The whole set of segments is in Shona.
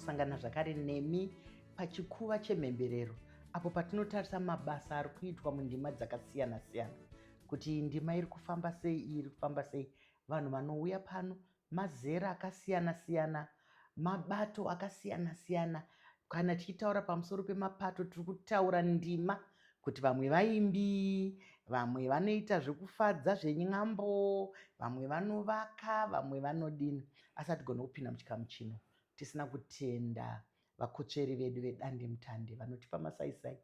kusangana zvakare nemi pachikuva chemhemberero apo patinotarisa mabasa ari kuitwa mundima dzakasiyana-siyana kuti ndima iri kufamba sei iyi iri kufamba sei vanhu vanouya pano mazera akasiyana siyana, mabato akasiyana siyana. Kana tichitaura pamusoro pemapato tiri kutaura ndima kuti vamwe vaimbi, vamwe vanoita zvekufadza zveny'ambo, vamwe vanovaka, vamwe vanodini. Asi hatigone kupinda muchikamu chino tisina kutenda Vakotsveri vedu vedandemutande vanotipa masaisai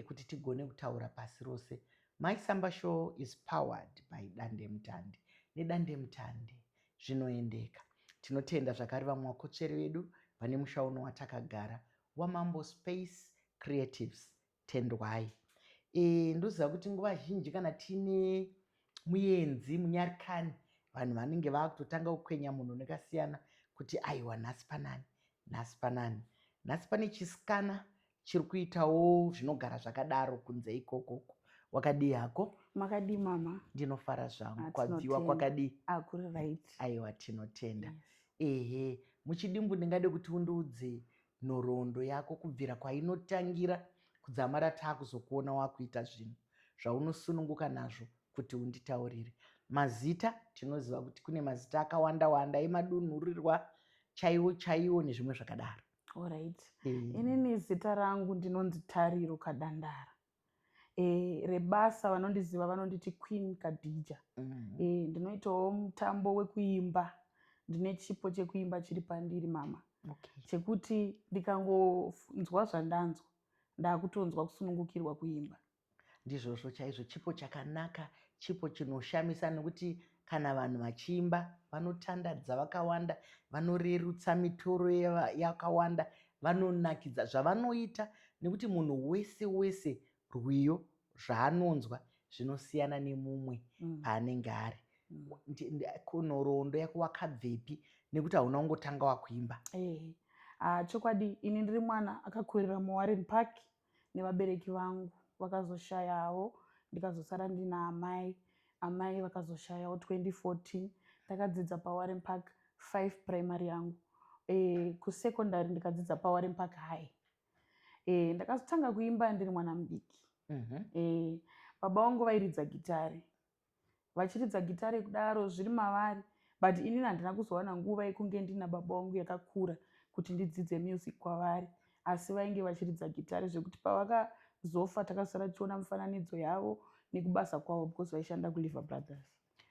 ekuti tigone kutaura pasi rose. My Samba Show is powered by Dandemutande. Nedandemutande zvinoendeka. Tinotenda zvakare vamwe vakotsveri vedu vane musha uno watakagara waMambo Space Creatives Tendwai. E, ndoziva kuti nguva zhinji kana tiine muyenzi munyarikani vanhu vanenge vakutotanga kukwenya munhu nekasiyana kuti aiwa nhasi panani nhasi panani nhasi pane chisikana chiri kuitawo zvinogara zvakadaro kunze ikokoko wakadii hako makadii mama ndinofara zvangu ah, kwabviwa kwakadii akuri ah, right aiwa tinotenda yes. ehe muchidimbu ndingade kuti undiudze nhoroondo yako kubvira kwainotangira kudzamara taakuzokuona wakuita zvinhu zvaunosununguka nazvo kuti unditaurire mazita tinoziva kuti kune mazita akawanda wanda emadunhurirwa chaiwo chaiwo nezvimwe zvakadaro orit inini zita rangu ndinonzi tariro kadandara eh, rebasa vanondiziva vanonditi queen kadhija mm. eh, ndinoitawo mutambo wekuimba ndine chipo chekuimba chiri pandiri mama okay. chekuti ndikangonzwa zvandanzwa ndakutonzwa kusunungukirwa kuimba ndizvozvo chaizvo chipo chakanaka chipo chinoshamisa nekuti kana vanhu vachiimba vanotandadza vakawanda vanorerutsa mitoro yakawanda vanonakidza zvavanoita nekuti munhu wese wese rwiyo zvaanonzwa zvinosiyana nemumwe mm. paanenge ari mm. nhoroondo yako wakabvepi nekuti hauna kungotanga wakuimba eh, ah, chokwadi ini ndiri mwana akakurira muwarren park nevabereki vangu vakazoshayawo ndikazosara ndina amai amai vakazoshayawo 2014 ndakadzidza pawarren park 5 primary yangu e, kusecondary ndikadzidza pawarren park high e, ndakazotanga kuimba ndiri mwana mudiki mm -hmm. e, baba wangu vairidza gitari vachiridza gitare kudaro zviri mavari but inini handina kuzowana nguva yekunge ndina baba wangu yakakura kuti ndidzidze music kwavari asi vainge vachiridza gitare zvekuti pavakazofa takasara tichiona mifananidzo yavo nekubasa kwavo because vaishanda kuliver brothers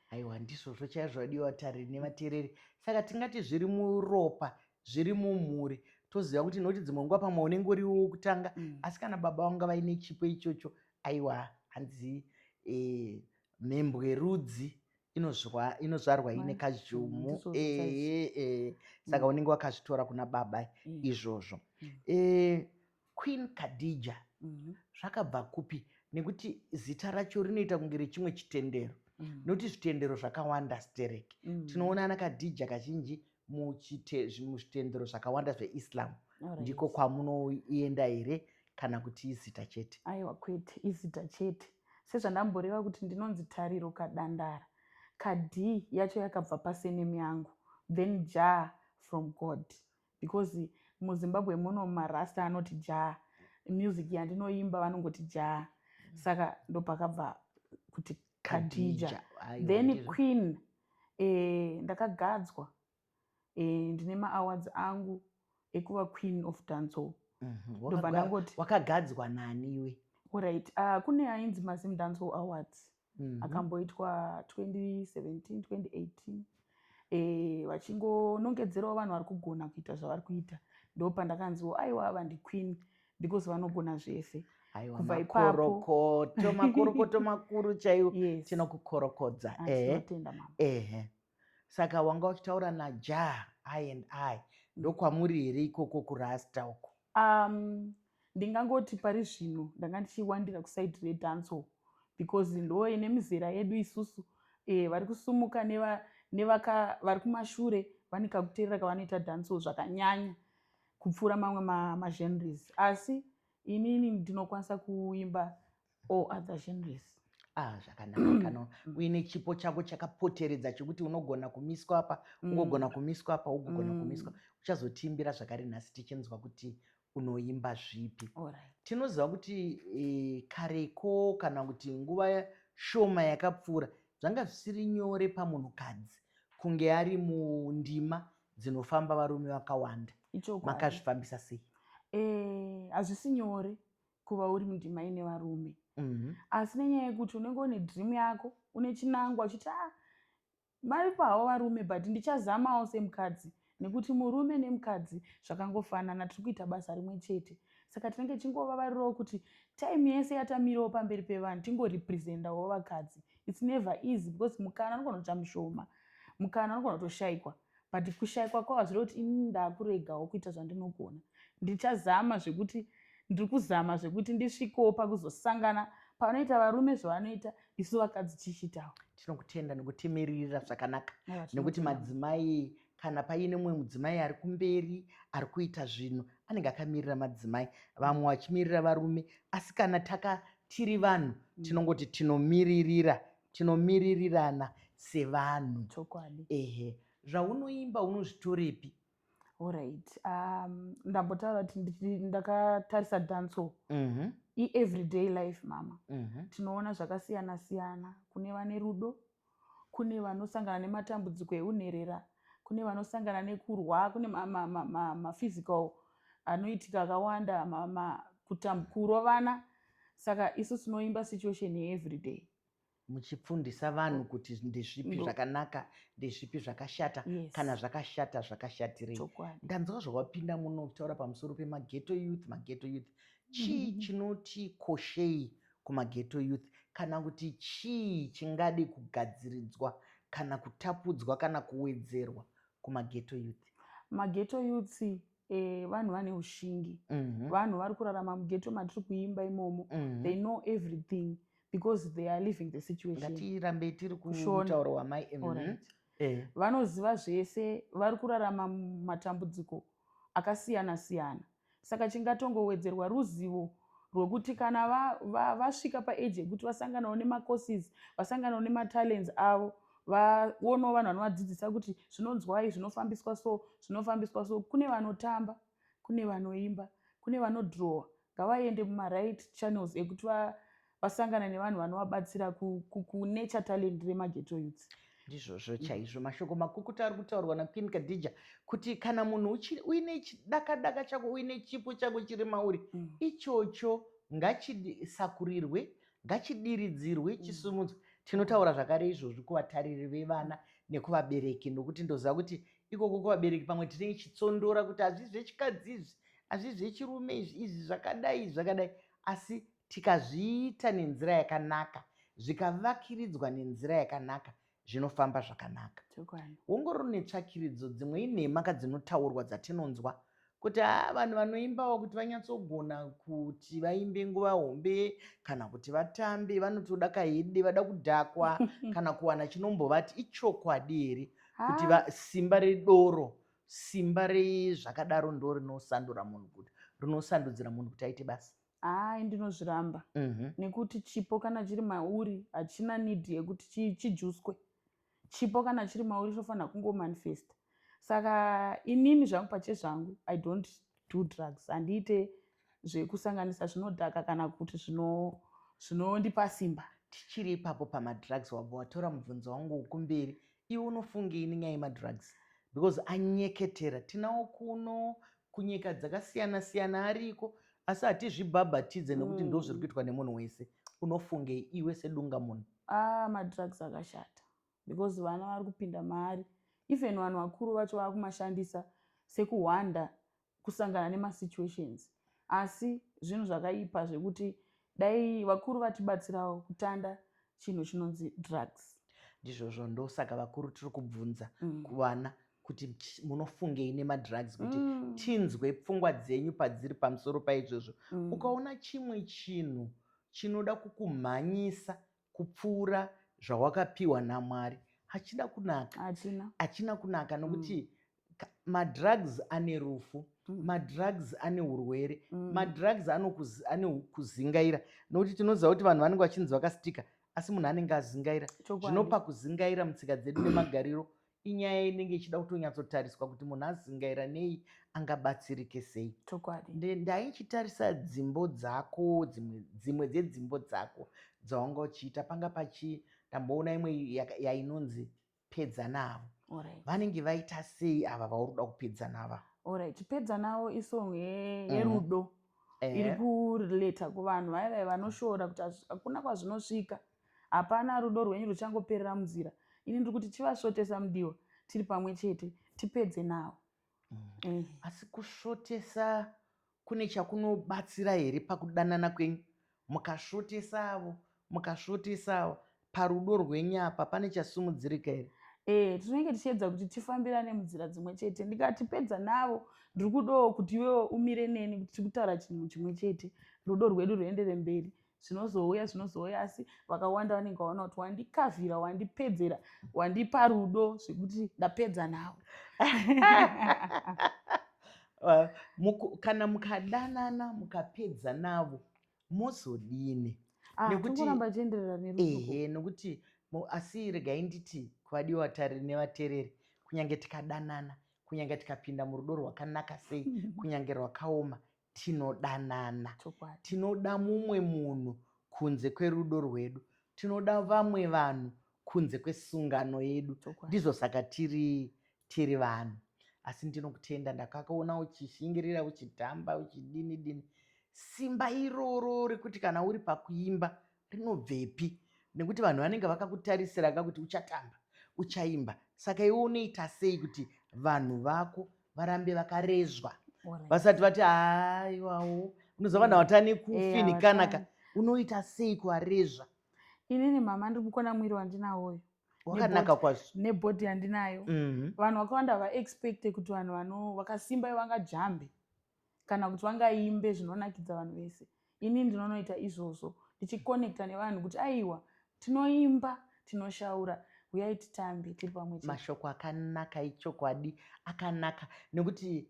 aiwa ndizvozvo chaizvo vadiwa vatariri nevateereri saka tingati zviri muropa zviri mumhuri toziva kuti nokuti dzimwe nguva pamwe unenge uriwo wokutanga mm. asi kana baba vanga vaine chipo ichocho Aiwa hanzi eh, mhembwe rudzi inozwa inozvarwa ine Manje, kazhumu ndizvo eh, zvacho. eh, eh. saka unenge wakazvitora kuna baba Mm. izvozvo Mm. eh, queen kadija Mhm. zvakabva kupi nekuti zita racho rinoita kunge rechimwe chitendero Mm. nokuti zvitendero zvakawanda sterek Mm. tinoona ana kadija kazhinji muzvitendero zvakawanda zveislam right. ndiko kwamunoenda here kana kuti izita chete aiwa kwete izita chete sezvandamboreva kuti ndinonzi tariro kadandara kad yacho yakabva pasenemi yangu then ja from god because muzimbabwe muno marasta anoti ja music yandinoimba vanongoti ja saka ndopakabva kuti khadija then queen eh, ndakagadzwa eh, ndine maawards angu ekuva queen of dancehall mhm. ndobva ndangoti wakagadzwa nani iwe orit uh, ah, kune ainzi mazim dancehall awards mm -hmm. akamboitwa 2017 2018 eh, vachingonongedzerawo vanhu vari kugona kuita zvavari kuita ndopandakanziwo aiwa ava ndiqueen because vanogona zvese aiwamakorokoto makorokoto makuru chaiwo yes. tinokukorokodza ah, ehe ehe saka wanga uchitaura najah i and i ndokwamuri here ikoko kurasta uko um, ndingangoti pari zvino ndanga ndichiwandira kusaidi redanso because ndo ine mizera yedu isusu e, vari kusumuka nevaka vari kumashure vane kakuterera kavanoita danso zvakanyanya kupfuura mamwe magenres ma asi inini ndinokwanisa kuimba all other genres ah zvakanaka kano uine chipo chako chakapoteredza chekuti unogona kumiswa apa mm. ungogona kumiswa apa ugogona mm. kumiswa uchazotiimbira zvakare nhasi tichinzwa kuti unoimba zvipi right. tinoziva kuti e, kareko kana kuti nguva shoma yakapfuura zvanga zvisiri nyore pamunhukadzi kunge ari mundima dzinofamba varume vakawanda makazvifambisa sei eh, hazvisi nyore kuva uri mundima ine varume mhm. asi nenyaya yekuti unenge une dream yako une chinangwa uchiti a ah, varipo havo varume but ndichazamawo semukadzi nekuti murume nemukadzi zvakangofanana tiri kuita basa rimwe chete saka tinenge tichingova varirowo kuti time yese yatamirawo pamberi pevanhu tingorepresentawo vakadzi its never easy because mukana anogona kuita mushoma mukana unogona kutoshaikwa but kushaikwa kwavo hazvire kuti ini ndakuregawo kuita zvandinogona ndichazama zvekuti ndiri kuzama zvekuti ndisvikewo pakuzosangana panoita varume zvavanoita isu vakadzi tichiitawo tinokutenda nekutimiririra zvakanaka nekuti madzimai kana paine mumwe mudzimai ari kumberi ari kuita zvinhu anenge akamirira madzimai vamwe vachimirira varume asi kana taka tiri vanhu mm. tinongoti tinomiririra tinomiririrana sevanhu chokwadi ehe zvaunoimba unozvitorepi orit um, ndambotaura kuti ndakatarisa danso mm -hmm. ieveryday life mama mm -hmm. tinoona zvakasiyana siyana kune vane rudo kune vanosangana nematambudziko eunherera kune vanosangana nekurwa kune maphysical ma, ma, ma, ma anoitika akawanda kurovana ma, ma, ma, saka isu tinoimba situation yeeveryday muchipfundisa vanhu kuti ndezvipi zvakanaka ndezvipi zvakashata yes. kana zvakashata zvakashatirei ndanzwa zvawapinda muno kutaura pamusoro pemageto youth mageto youth chii mm-hmm. chinoti koshei kumageto youth kana kuti chii chingadi kugadziridzwa kana kutapudzwa kana kuwedzerwa kumageto youth mageto youth Eh, vanhu vane ushingi mhm. vanhu vari kurarama mugeto matiri kuimba imomo mhm. they know everything because they are living the situationatirambe tiri kutauro wamai mhm. eh. vanoziva zvese vari kurarama matambudziko akasiyana siyana saka chingatongowedzerwa ruzivo rwekuti kana vasvika va, va paage yekuti vasanganawo nemacourses vasanganawo nematalents avo vaonawo vanhu vanovadzidzisa kuti zvinonzwai zvinofambiswa so zvinofambiswa so kune vanotamba kune vanoimba kune vanodrowa ngavaende mumaright channels ekuti vasangana nevanhu vanovabatsira kunature talent remageto youths ndizvozvo chaizvo mashoko makukuta ari kutaurwa naqueen kadhija kuti kana munhu uine chidakadaka chako uine chipo chako chiri mauri mm. ichocho ngachisakurirwe ngachidiridzirwe mm. chisumudzwe tinotaura zvakare izvozvi kuvatariri vevana nekuvabereki nokuti ndoziva kuti ikoko kuvabereki pamwe tine chitsondora kuti hazvii zvechikadzi izvi hazvii zvechirume izvi izvi zvakadai izvi zvakadai asi tikazviita nenzira yakanaka zvikavakiridzwa nenzira yakanaka zvinofamba zvakanaka ongororo netsvakiridzo dzimwe inhema ka dzinotaurwa dzatinonzwa kuti haa vanhu vanoimbawo kuti vanyatsogona kuti vaimbe nguva hombe kana kuti vatambe vanotoda kahede vada kudhakwa kana kuwana chinombovati ichokwadi here kuti simba redoro simba rezvakadaro ndo rinosandura munhu kuti rinosandudzira munhu kuti aite basa hayi ndinozviramba mm -hmm. nekuti chipo kana chiri mauri hachina need yekuti chi, chijuswe chipo kana chiri mauri chinofanira kungomanifesta saka inini zvangu pache zvangu i don't do drugs handiite zvekusanganisa zvinodhaka kana kuti zvinondipa zvino simba tichiri ipapo pamadrugs wabva watora mubvunzo wangu wekumberi Iwe unofungei nenyaya yemadrugs because anyeketera tinawo kuno kunyika dzakasiyana siyana ariko asi hatizvibhabhatidze nekuti ndo zviri mm. kuitwa nemunhu wese unofungei iwe sedunga munhu ah, madrugs akashata because vana vari kupinda maari even vanhu vakuru vacho vakumashandisa sekuhwanda kusangana nemasituations asi zvinhu zvakaipa zvekuti dai vakuru vatibatsirawo kutanda chinhu chinonzi drugs ndizvozvo ndosaka vakuru tiri kubvunza mm. kuvana kuti munofungei nemadrugs kuti mm. tinzwe pfungwa dzenyu padziri pamusoro paizvozvo mm. ukaona chimwe chinhu chinoda kukumhanyisa kupfuura zvawakapiwa namwari hachina kunaka hachina, hachina kunaka nokuti mm madrugs ane rufu mm. madrugs ane urwere mm. madrugs ane kuzingaira nokuti tinoziva kuti vanhu vanenge vachinzi vakastika asi munhu anenge azingaira zvinopa kuzingaira mutsika dzedu nemagariro Inyaya inenge ichida kutonyatsotariswa kuti munhu azingaira nei angabatsirike sei. Chokwadi. Ndaichitarisa dzimbo dzako dzimwe dzimwe dzedzimbo dzako dzawanga uchiita panga pachi ndamboona imwe yainonzi pedza navo. Right. Vanenge vaita sei ava vauri kuda kupedza nava? Alright, pedza navo isong mhm. yerudo. Mm. Iri kurelata kuvanhu vaya vaya vanoshora kuti hakuna kwazvinosvika. Hapana rudo rwenyu ruchangoperera munzira. Ini ndiri kuti chivasvotesa mudiwa tiri pamwe chete tipedze navo. Mm. Mm. Asi kusvotesa kune chakunobatsira here pakudanana kwenyu? Mukasvotesa avo, mukasvotesa avo, parudo rwenyu apa pane chasimudzirika here? Eh, tinenge tichiedza kuti tifambirane munzira dzimwe chete ndikatipedza navo ndiri kudawo kuti iwewo umire neni kuti tikutaura chinhu chimwe chete rudo rwedu rwuendere mberi zvinozouya zvinozouya asi vakawanda vanenge vaona kuti wandikavhira wandipedzera wandipa rudo zvekuti ndapedza nawo uh, muku, kana mukadanana mukapedza navo mozodini ah, nekuramba chienderera neruehe nokuti asi regai nditi kuvadiwa vatari nevatereri kunyange tikadanana kunyange tikapinda murudo rwakanaka sei kunyange rwakaoma tinodanana tinoda mumwe munhu kunze kwerudo rwedu tinoda vamwe vanhu kunze kwesungano yedu ndizvo saka tiri tiri vanhu asi ndinokutenda ndakakaona uchishingirira uchidhamba uchidini dini simba iroro rekuti kana uri pakuimba rinobvepi nekuti vanhu vanenge vakakutarisira ka kuti uchatamba uchaimba saka iwe unoita sei kuti vanhu vako varambe vakarezwa vasati vati aiwawo unoziva vanhu vatane kufinikanaka eh, unoita sei kuvarezva inini mama ndiri kukona mwiri wandinawoyo wakanaka kwazvo nebhodhi yandinayo mhm. vanhu vakawanda vaexpecte kuti vanhu vakasimba ivangajambe kana kuti vangaimbe zvinonakidza vanhu vese ini ndinonoita izvozvo ndichikonekta nevanhu kuti aiwa tinoimba tinoshaura huyai titambe tiri pamwe mashoko akanaka ichokwadi akanaka nekuti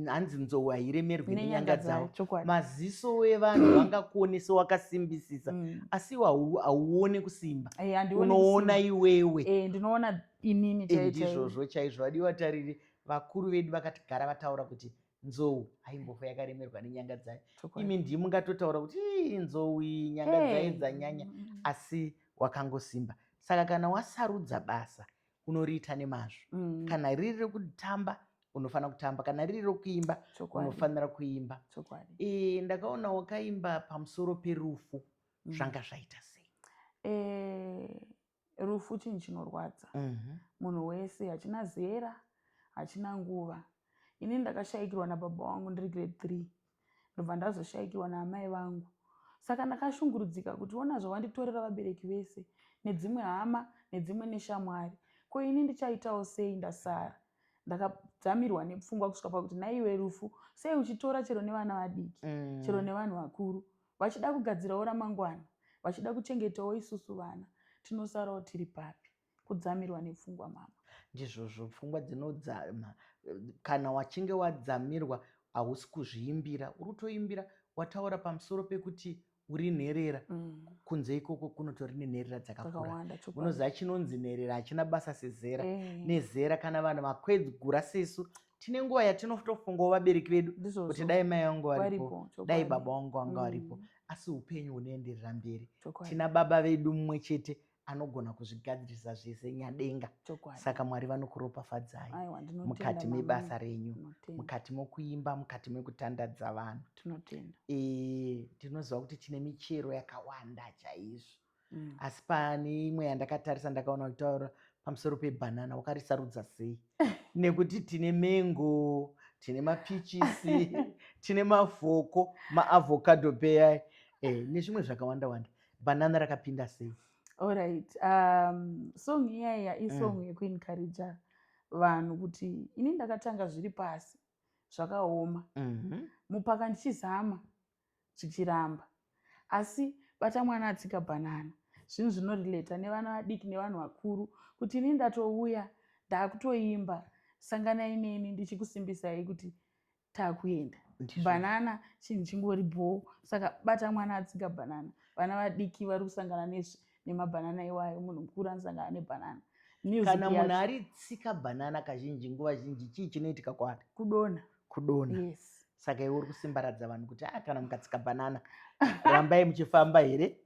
hanzi nzou hairemerwi nenyanga dzavo maziso evanhu vangakuonesa wakasimbisisa mm. asi iwo hauone kusimba eh, unoona iwewe eh, ndinoona inini chaizvozvo chaizvo vadiwa tariri vakuru vedu vakatigara vataura kuti nzou haimbofo yakaremerwa nenyanga dzayo imi ndii mungatotaura kuti ii nzou iyi nyanga dzayo dzanyanya asi wakangosimba saka kana wasarudza basa unoriita nemazvo mm. kana riri rekutamba unofanira kutamba kana riri rekuimba unofanira kuimba e, ndakaona wakaimba pamusoro perufu mm. zvanga zvaita sei e, rufu chinhu chinorwadza munhu wese hachina zera hachina nguva ini ndakashaikirwa nababa wangu ndiri grade three ndobva ndazoshaikirwa naamai vangu saka ndakashungurudzika kuti ona zvavanditorera vabereki vese nedzimwe hama nedzimwe neshamwari ko ini ndichaitawo sei ndasara ndakadzamirwa nepfungwa kusvika pakuti naiwe rufu sei uchitora chero nevana vadiki mm. chero nevanhu vakuru Vachida kugadzirawo ramangwana, vachida kuchengetawo isusu vana. Tinosarawo tiri papi? Kudzamirwa nepfungwa mama. Ndizvozvo pfungwa dzinodzama. Kana wachinge wadzamirwa hausi kuzviimbira, uri kutoimbira wataura pamusoro pekuti uri nherera mm. kunze ikoko kunotori nenherera dzakakura unoziva chinonzi nherera hachina basa sezera eh. nezera kana vanhu vakwegura sesu tine nguva yatinotofungawo vabereki vedu kuti dai mai vangu varipo dai baba vangu vanga mm. varipo asi upenyu hunoenderera mberi tina baba vedu mumwe chete anogona kuzvigadzirisa zvese nyadenga saka mwari vanokuropafadzai mukati mebasa renyu mukati mokuimba mukati mekutandadza vanhu tinoziva kuti tine michero yakawanda chaizvo mm. asi pane imwe yandakatarisa ndakaona uchitaura pamusoro pebhanana wakarisarudza sei nekuti tine mengo tine mapichisi tine mavhoko maavhokadho peyai eh, nezvimwe zvakawanda wanda bhanana rakapinda sei allright um, song iyaiya isong mm. yekuencouraja vanhu kuti ini ndakatanga zviri pasi zvakaoma mm -hmm. mupaka ndichizama zvichiramba asi bata mwana atsika bhanana zvinhu zvinorelata nevana vadiki nevanhu vakuru kuti ini ndatouya ndakutoimba sanganai neni ndichikusimbisai kuti takuenda bhanana chinhu chingori bhoo saka bata mwana atsika bhanana vana vadiki vari kusangana nezvi nemabhanana iwayo munhu mukuru anosangana nebhanana kana munhu ari tsika bhanana kazhinji nguva zhinji chii chinoitika kwaari kudona kudona yes. saka iwe uri kusimbaradza vanhu kuti a ah, kana mukatsika bhanana rambai muchifamba here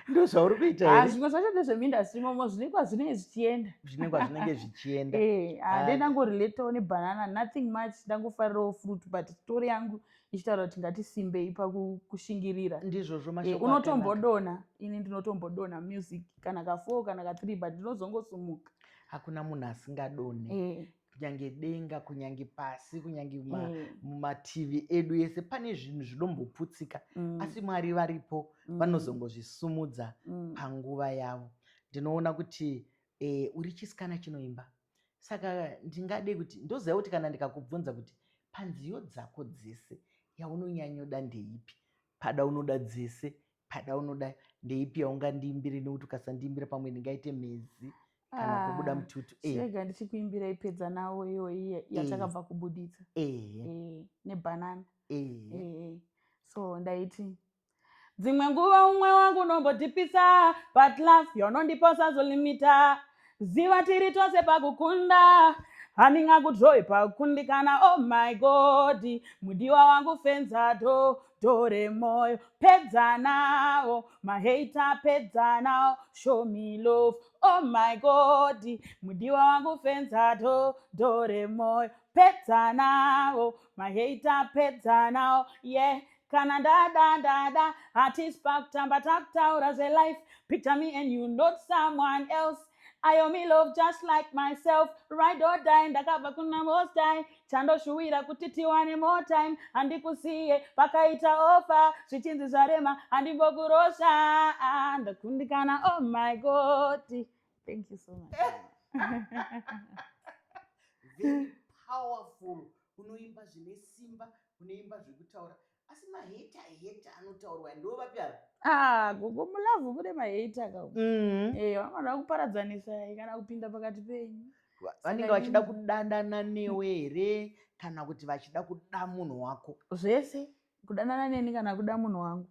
ndozvauri kuita ah, zvimwe zvacho ndezvemindastry momo zvinenge kwazvinenge zvichienda zvinenge kwazvinenge zvichienda eh, ah, ah. ndangoriletawo nebhanana nothing much ndangofarirawo fruit but story yangu ichitaura kuti ngatisimbei pakushingirira ndizvozvo eh, mashoko unotombodona ini ndinotombodona music kana kafoo kana kathree but ndinozongosumuka hakuna munhu asingadone eh. kunyange denga kunyange pasi kunyange eh. mumativi edu ese pane zvinhu zvinomboputsika mm. asi mwari varipo mm. vanozongozvisumudza mm. panguva yavo ndinoona kuti Eh, uri chisikana chinoimba saka ndingade kuti ndoziva kuti kana ndikakubvunza kuti panziyo dzako dzese yaunonyanyoda ndeipi pada unoda dzese pada unoda ndeipi yaungandiimbire nekuti ukasandiimbira pamwe ndingaite mhezi kana ah, kubuda mututu eh. chirega ndichikuimbira ipedza nawo iyoyi eh. yatakabva kubuditsa eh. nebhanana so ndaiti dzimwe nguva umwe wangu unombodhipisa but love yonondipa usazolimita ziva tiri tose pakukunda handingakudrowi pakukundikana oh my god mudiwa wangu fenza do dore moyo pedza nawo maheita pedza nawo show me love oh my god mudiwa wangu fenza do dore moyo pedza nawo maheita pedza nawo ye yeah. kana ndada ndada hatisi pakutamba takutaura zvelife picture me and you not someone else ayo me love just like myself ride or die ndakabva kuna most time chandoshuwira kuti tiwane more time handikusiye pakaita ofa zvichinzi zvarema handimbokurosha ah, ndakundikana oh my god thank you so much very powerful Unoimba zvine simba, unoimba zvekutaura. Asi ma hater hater anotaurwa ndiwo vapi ava? Ah, gogo mulove mune ma hater ka. Mm. Eh, vanoda kuparadzanisa kana kupinda pakati penyu. Vanenge vachida kudandana newe here kana kuti vachida kuda munhu wako? Zvese. kudanana neni kana kuda munhu wangu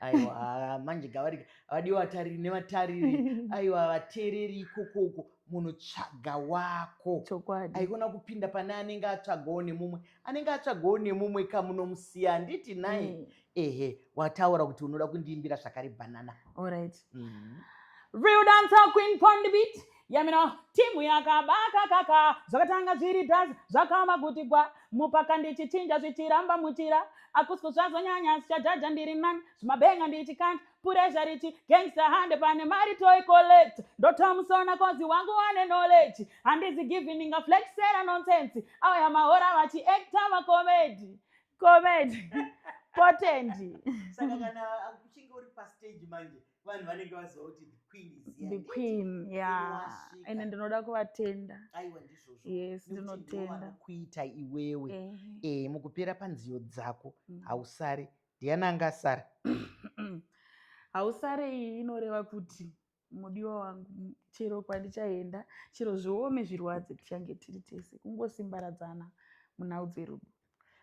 aiwa manje gavarika vadiwa vatariri nevatariri aiwa vateereri ikokoko munhu tsvaga wako chokwadi aikona kupinda pane anenge atsvagawo nemumwe anenge atsvagawo nemumwe kamunomusiya handiti nai mm. ehe wataura kuti unoda kundiimbira zvakare bhanana orit mm. real dancer queen pondibit yamina timu yakabakakaka zvakatanga zviri das zvakaoma kuti gwa mupaka ndichichinja zvichiramba muchira akusi kuzvazonyanya sichajaja ndiri nani zvimabenga ndichikanda puresha richi gangsta hande pane mari toy collect ndotamusona kozi wangu wane knowledge handizi givi ndingaflexera nonsense auya mahora vachiacta vacomedi comedi potendi saka kana uchinge uri pastage manje vanhu vanenge vaziva kuti the queen is here the queen yeah and ndinoda kuvatenda aiwa ndizvozvo yes ndinotenda kuita iwewe eh, eh mukupera panziyo dzako mm. hausare ndiana anga asara hausare iyi inoreva kuti mudiwa wangu chero kwandichaenda chero zviome zvirwadze tichange tiri tese kungosimbaradzana munhau dzerudo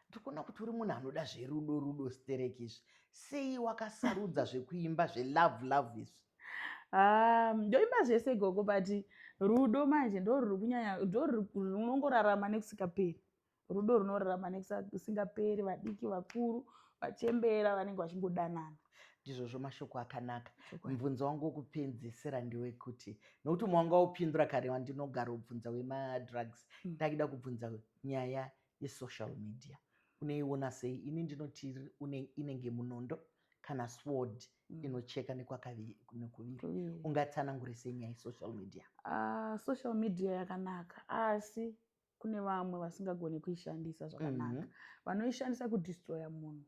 ndikuona kuti uri munhu anoda zverudo rudo stereki izvi sei wakasarudza zvekuimba zvelove love izvi ah, ndoimba zvese gogo but rudo manje ndoruri kunyanya ndorunongorarama nekusingaperi rudo runorarama nekusingaperi vadiki vakuru vachembera vanenge vachingodanana ndizvozvo mashoko akanaka mubvunzo wangu wokupedzisira ndewekuti nokuti umwe wanga wopindura kare wandinogara ubvunza wemadrugs hmm. ndakida kubvunza nyaya yesocial media unoiona sei ini ndinoti inenge munondo kana sword mm. inocheka nekwakaviri ungatsanangure sei nyaya yesocial media uh, social media yakanaka asi kune vamwe vasingagone kuishandisa zvakanaka mm -hmm. vanoishandisa kudestroya munhu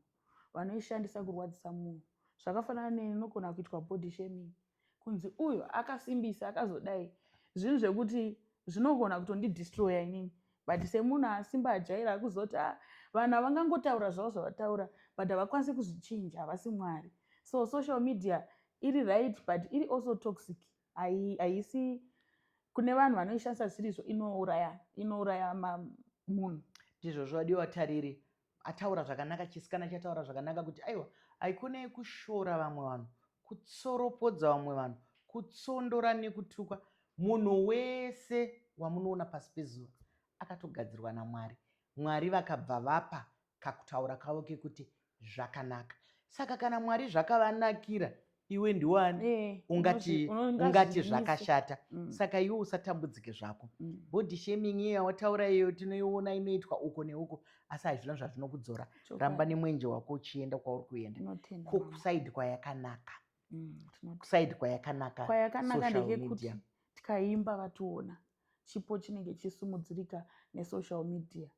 vanoishandisa kurwadzisa munhu zvakafanana neinogona kuitwa body shaming mm kunzi uyu akasimbisa akazodai zvinhu zvekuti zvinogona kutondidistroya inini but semunhu asimba ajaira akuzoti a ah, vanhu havangangotaura zvavo zvavataura but havakwanisi kuzvichinja havasi mwari so social media iri right but iri also toxic haisi kune vanhu vanoishandisa zvisirizvo inouraya inouraya munhu ndizvo zvadiwa tariri ataura zvakanaka chisikana chataura zvakanaka kuti aiwa haikona yekushora vamwe vanhu kutsoropodza vamwe vanhu kutsondora nekutukwa munhu wese wamunoona pasi pezuva akatogadzirwa namwari mwari vakabva vapa kakutaura kavo kekuti zvakanaka saka kana mwari zvakavanakira iwe ndiwani eh, ungati ungati zvakashata mm. saka iwe usatambudzike zvako mm. body shaming iye yawataura iyo tinoiona inoitwa uko neuko asi hazvina zvazvinokudzora ramba nemwenje wako uchienda kwauri kuenda ko kusaidi kwayakanaka mm, kusaidi kwayakanaka kwayakanaka ndekekuti tikaimba vationa chipo chinenge chisumudzirika nesocial media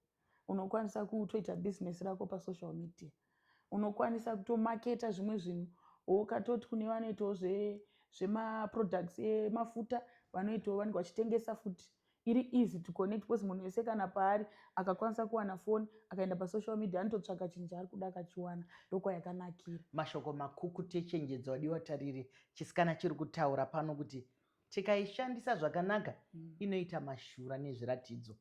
unokwanisa kutoita business rako pasocial media unokwanisa kutomaketa zvimwe zvinhu ukatoti kune vanoitawo zvemaproducts emafuta vanoitawo vanenge vachitengesa futi iri easy to connect because munhu wese kana paari akakwanisa kuwana foni akaenda pasocial media anototsvaka chinhu chaari kuda akachiwana ndokwayakanakira mashoko makukutu echenjedzo wadiwa tariri chisikana chiri kutaura pano kuti tikaishandisa zvakanaka mm. inoita mashura nezviratidzo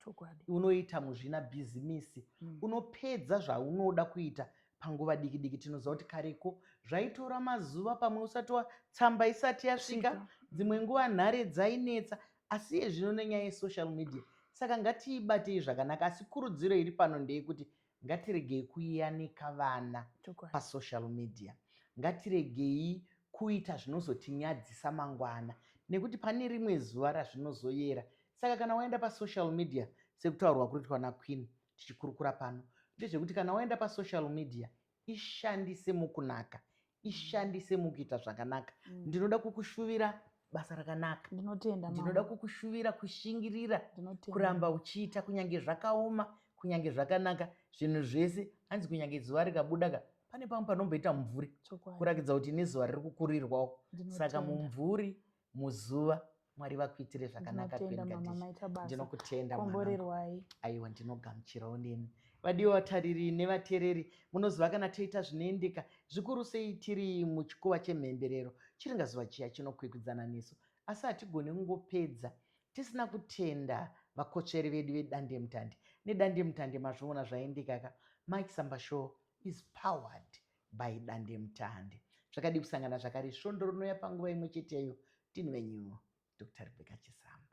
unoita muzvina bhizimisi mm. unopedza zvaunoda kuita panguva diki diki tinoziva kuti kareko zvaitora mazuva pamwe usati watsamba isati yasvika dzimwe nguva nhare dzainetsa asi iye zvino nenyaya yesocial media saka ngatiibatei zvakanaka asi kurudziro iri pano ndeyekuti Ngatiregei kuyanika vana pasocial media. Ngatiregei kuita zvinozotinyadzisa mangwana nekuti pane rimwe zuva razvinozoyera. Saka kana waenda pasocial media sekutaurwa kuritwa naQueen tichikurukura pano ndezvekuti kana waenda pasocial media ishandise mukunaka ishandise mukuita zvakanaka mm. ndinoda kukushuvira basa rakanaka ndinotenda ndinoda kukushuvira kushingirira kuramba uchiita kunyange zvakaoma kunyange zvakanaka zvinhu zvese hanzi kunyange zuva rikabuda ka pane pamwe panomboita mumvuri kurakidza kuti nezuva riri kukurirwawo saka mumvuri muzuva mwari vakuitire zvakanaka ndinokutenda aiwa ndinogamuchirawo nemi vadiwa vatariri nevatereri munoziva kana toita zvinoendeka zvikuru sei tiri muchikuva chemhemberero chiringazuva chiya chinokwikwidzana nesu asi hatigone kungopedza tisina kutenda vakotsveri vedu vedandemutande nedandemutande mazviona zvaendekaka mike sambashow is powered by dandemutande zvakadii kusangana zvakare svondo rinouya panguva imwe cheteyo tini venyu dr rebecca chisamba